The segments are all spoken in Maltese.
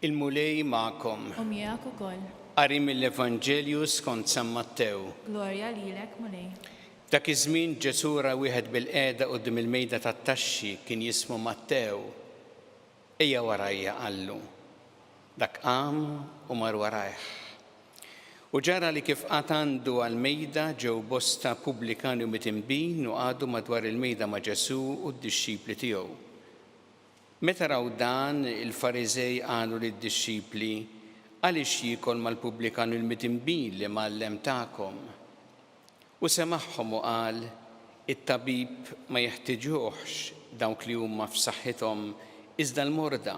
Il-Mulej magħkom. U miegħek ukoll. Qari mill-Evanġelju skont San Mattew. Glorja lilek, Mulej. F'dak iż-żmien Ġesù ra wieħed bilqiegħda quddiem il-mejda tat-taxxi, kien jismu Mattew. Ejja warajja, qallu. Dak qam u mar warajh. U ġara li kif qagħad għandu għall-mejda, ġew bosta pubblikani u mitinbin u qagħdu madwar il-mejda ma' Ġesù u d-dixxipli tiegħu. Meta raw dan, il-Fariżej qalu lid-dixxipli, Għaliex jiekol mal-pubblikan u l-midinbin l-imgħallem tagħkom? U semagħhom u qal, It-tabib ma jeħtiġuhx dawk li huma f'saħħithom, iżda l-morda.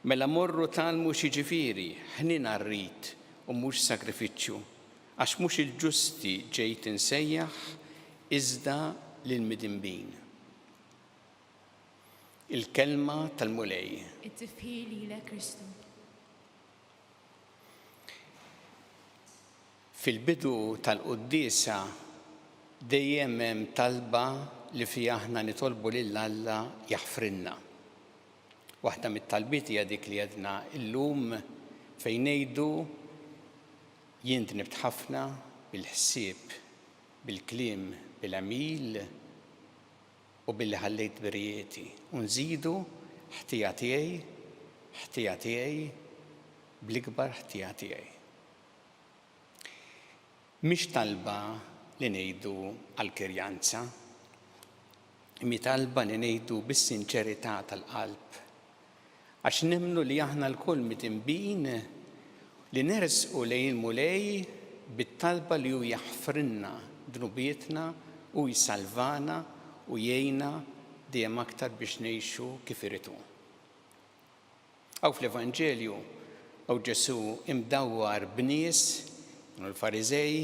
Mela morru tgħallmu x'jiġifieri, 'Ħniena rrid, u mhux sagrifiċċju, għax mhux il-ġusti ġejt insejjaħ, iżda lill-midinbin. Il-Kelma tal-Mulej. It-tifħir lilek Kristu. Fil-bidu tal-quddiesa dejjem hemm talba li fiha aħna nitolbu lil Alla jaħfrilna. Waħda mit-talbiet hija dik li għedna illum fejn ngħidu jien dnibt ħafna bil-ħsieb, bil-kliem, bil-għemil, u billi ħallejt birijieti, u nżidu, ħtija tiegħi, ħtija tiegħi, bl-ikbar ħtija tiegħi. Mhix talba li ngħidu għall-kirjanza, imma hi talba li ngħidu bis-sinċerità tal-qalb, għax nemmnu li aħna lkoll mitinbin li nersqu lejn il-Mulej bit-talba li hu jaħfrilna dnubietna u jsalvana u jgħinna dejjem aktar biex ngħixu kif irid hu. Hawn fl-Evanġelju hawn Ġesù imdawwar b'nies, kienu l-Fariżej,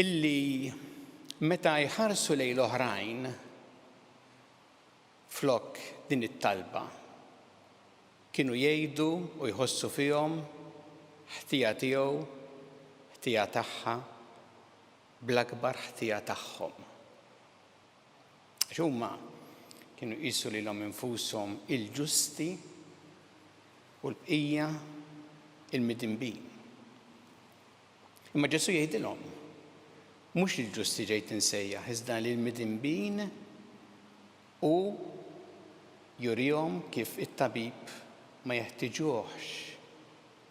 illi meta jħarsu lejn l-oħrajn Flok din it-talba, kienu jgħidu u jħossu fihom ħtija tiegħu, ħtija tagħha, bl-akbar ħtija tagħhom. Għax huma kienu jqisu lilhom infushom il-ġusti u l-bqija il-midinbin. Imma Ġesù jgħidilhom, Mhux lill-ġusti ġejt insejjaħ, iżda lill-midinbin, u jurihom kif it-tabib ma jeħtiġuhx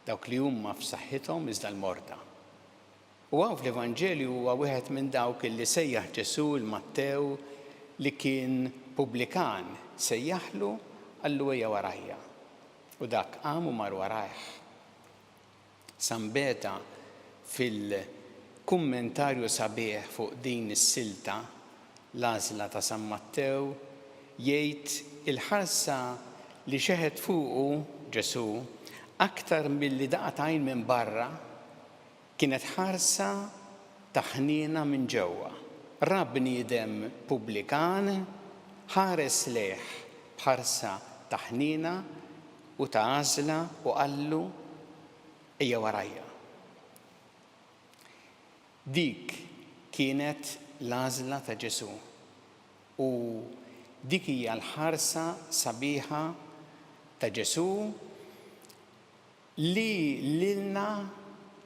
dawk li huma f'saħħithom iżda l-morda. U hawn fl-Evanġelju huwa wieħed minn dawk li sejjaħ Ġesù 'l Mattew li kien pubblikan, sejjaħlu, qallu ejja warajja. U dak qam u mar warajh. Sambeta fil-kummentarju sabiħ fuq din is-silta, L-Għażla ta' San Mattew, jgħid il-ħarsa li xeħet fuqu Ġesù aktar milli daqat għajn minn barra kienet ħarsa ta' ħniena minn ġewwa. Ra bniedem pubblikan, ħares lejh b'ħarsa ta' ħniena u ta' għażla u qallu, Ejja warajja. Dik kienet l-għażla ta' Ġesù u dik hija l-ħarsa sabiħa ta' Ġesù li lilna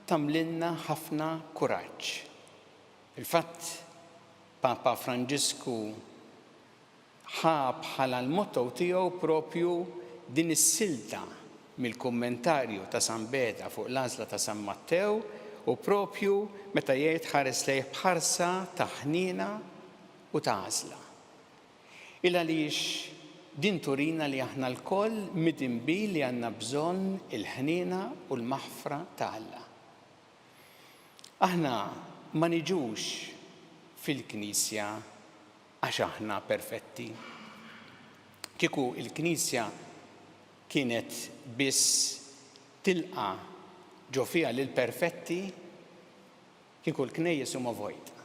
tagħmlilna ħafna kuraġġ. Fil-fatt, Papa Franġisku ħa bħala l-motto tiegħu proprju din is-silta mill-kummentarju ta' San Beda fuq l-Għażla ta' San Mattew u proprju meta jgħid ħares lejh b'ħarsa ta' ħniena u ta' għażla. Ilgħaliex din turina li aħna lkoll midinbin li għandna bżonn il-ħniena u l-maħfra ta' Alla. Aħna ma niġux fil-Knisja Għax aħna perfetti. Kieku l-Knisja kienet biss tilqa' ġo fiha lill-perfetti, kieku l-knejjes huma vojta.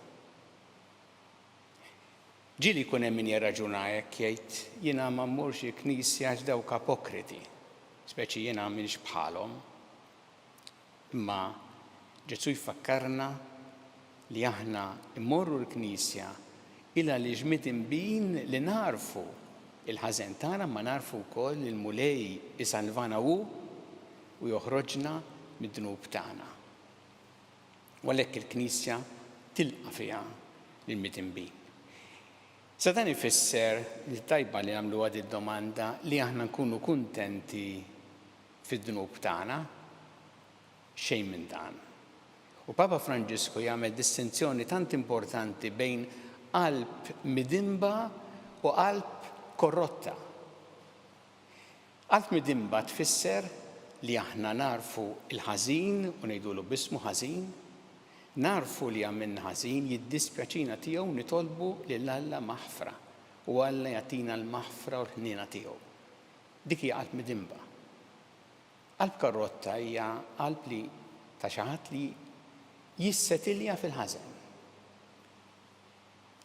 Ġieli jkun hemm min jirraġuna hekk jgħid, jiena ma mmurx il-Knisja għax dawk apokriti, speċi jiena m'iniex bħalhom. Imma Ġesù jfakkarna li aħna mmorru l-Knisja il għaliex midinbin li nagħrfu l-ħażen tagħna imma nagħrfu wkoll li l-Mulej isalvana hu u joħroġna mid-dnub tagħna. U għalhekk il-Knisja tilqa' fiha lill-midinbin. Sa dan ifisser li tajba li nagħmluha did-domanda li aħna nkunu kuntenti fid-dnub tagħna? Xejn minn dan. U Papa Franġisku jagħmel distinzjoni tant importanti bejn qalb midinba u qalb korrotta. Qalb midinba tfisser li aħna nagħrfu l-ħażin u ngħidulu b'ismu ħażin, nagħrfu li għamilna ħażin, jiddispjaċina tiegħu nitolbu lil Alla maħfra u Alla jagħtina l-maħfra u l-ħniena tiegħu. Dik hija qalb midinba. Qalb karrotta hija qalb li ta' xi ħadd li jissetilja fil-ħażen.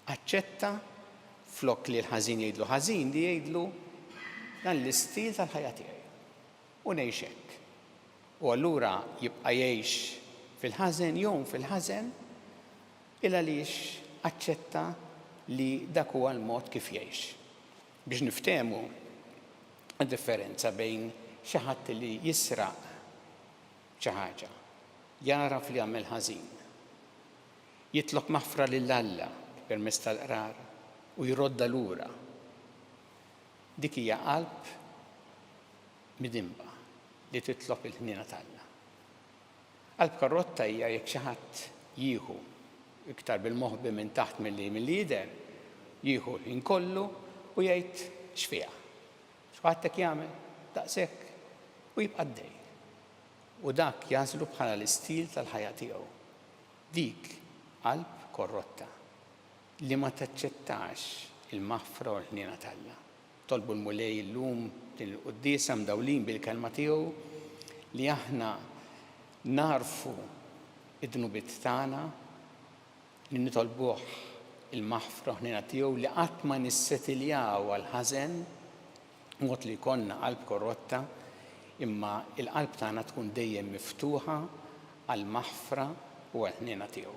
Aċċetta, flok li l-ħażin jgħidlu ħażin, li jgħidlu, Dan l-istil tal-ħajja tiegħi. U ngħix hekk. U allura jibqa' jgħix fil-ħażen, jgħum fil-ħażen, il għaliex aċċetta li dak huwa l-mod kif jgħix. Biex niftehmu d-differenza bejn xi ħadd li jisraq xi ħaġa, jagħraf li għamel ħażin, jitlob maħfra lil Alla permezz tal-Qrar u jroddha lura, dik hija qalb midinba li titlob il-ħniena t'Alla. Qalb karrotta hija jekk xi ħadd jieħu iktar bil-moħbi minn taħt milli milli jidher, jieħu l-ħin kollu u jgħid x'fiha. X'kulħadd hekk jagħmel? Daqshekk? U jibqa' għaddej. U dak jagħżlu bħala l-istil tal-ħajja tiegħu. Dik qalb korrotta li ma taċċettax il-maħfra u l-ħniena t'Alla. Tolbu l-Mulej illum f'din il-Quddiesa mdawlin bil-Kelma tiegħu li aħna nagħrfu d-dnubiet tagħna, li nitolbuh il-maħfra u l-ħniena tiegħu, li qatt ma nissetiljaw għall-ħażen b'mod li jkollna qalb korrotta, imma l-qalb tagħna tkun dejjem miftuħa għall-maħfra u għall-ħniena tiegħu.